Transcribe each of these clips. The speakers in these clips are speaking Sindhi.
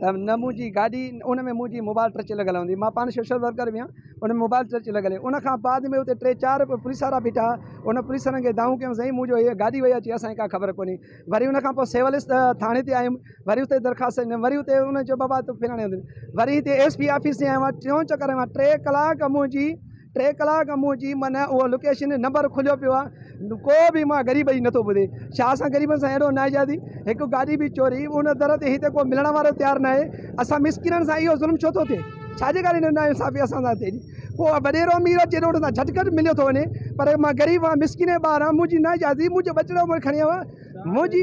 ته نه منهنجي گاڏي ان ۾ منهنجي موبائل ٽچ لڳل هوندي مان پاڻ سوشل ورڪر به آهيان ان ۾ موبائل ٽچ لڳل هي ان کان بعد ۾ اتي ٽي چار پوليس وارا بيٺا هئا ان پوليس وارن کي دانهون ڪيم سائين منهنجو هي گاڏي وئي اچي اسانکي ڪا خبر ڪونهي وري ان کان پوء سول ٿاڻي تي آيم وري اتي درخواست ڏنم وري اتي ان چيو بابا تون فلاڻي هنڌ وري هتي ايس پي آفيس تي آيو آهيان ٽيون چڪر هنيو آهيان ٽي ڪلاڪ منهنجي ٽي ڪلاڪ منهنجي من اهو لوڪيشن نمبر کليو پيو آهي ڪو به مان غريب جي نٿو ٻڌي ڇا اسان غريبن سان اهڙو ناجائزي هڪ گاڏي به چوري ان در تي هتي ڪو ملڻ وارو تيار نه آهي اسان مسڪينن سان اهو ظلم ڇو ٿو ٿئي ڇا جي ڪاري نا انصافي اسان سان ٿئي ٿي ڪو وڏيرو امير اچي روڊ تان جھٽ ڪٽ مليو ٿو وڃي پر مان غريب آهيان مسڪين ٻار آهيان منهنجي ناجائزي منهنجو ٻچڙو مون کي کڻي ويو آهي منهنجي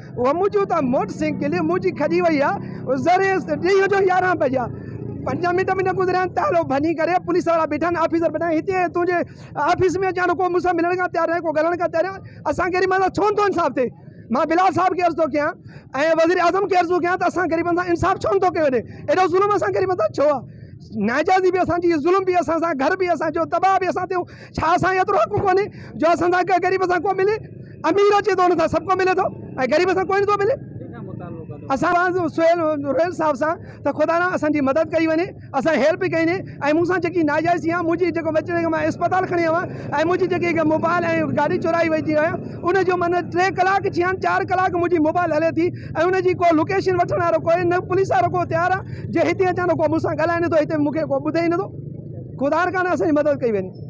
اهو منهنجو ته موٽر سائيڪل منهنجي کڄي وئي آ ذري ڏينهن جو يارهن بجا پنجاهه منٽ به نه گذريا آهن تالو ڀڃي ڪري پوليس وارا بيٺا آهن آفيسر بيٺا آهن هتي تنهنجي آفيس ۾ اچان ڪو مون سان ملڻ کان تيار ناهي ڪو ڳالهائڻ کان تيار ناهي اسان غريبن سان ڇو نٿو انصاف ٿئي مان بلال صاحب کي عرض ٿو ڪيان ۽ وزير اعظم کي عرض ٿو ڪيان ته اسان غريبن سان انصاف ڇو نٿو ڪيو وڃي اهڙو ظلم اسان غريبن سان ڇو آ ناجائزي به اسان جي ظلم به اسان سان گهر به اسان جو تباهه به اسان تي ڇا اسان کي ايترو حق ڪونهي جو اسان سان ڪنهن غريب سان ڪو ملي امير اچي ٿو ان سان سڀ ڪو ملي ٿو ۽ غريب سان ڪوئي نٿو ملي اسان سهيل روحيل صاحب سان ته خدا نه اسان جي مدد ڪئي وڃي اسان هيلپ به ڪئي ۽ مون سان جيڪي ناجائز ٿي آهي منهنجي جيڪو بچي مان اسپتال کڻي آيو آهيان ۽ منهنجي جيڪي موبائل ۽ گاڏي چورائي وئي جي آهيان ان جو من ٽي ڪلاڪ ٿي آهن چار ڪلاڪ منهنجي موبائل هلي ٿي ۽ ان جي ڪو لوڪيشن وٺڻ وارو ڪوئي نه پوليس وارو ڪو تيار آهي جي هتي اچان ته ڪو مون سان ڳالهائي نٿو هتي مون کي ڪو ٻڌي ئي نٿو خدا رکا نه اسان جي مدد ڪئي وڃي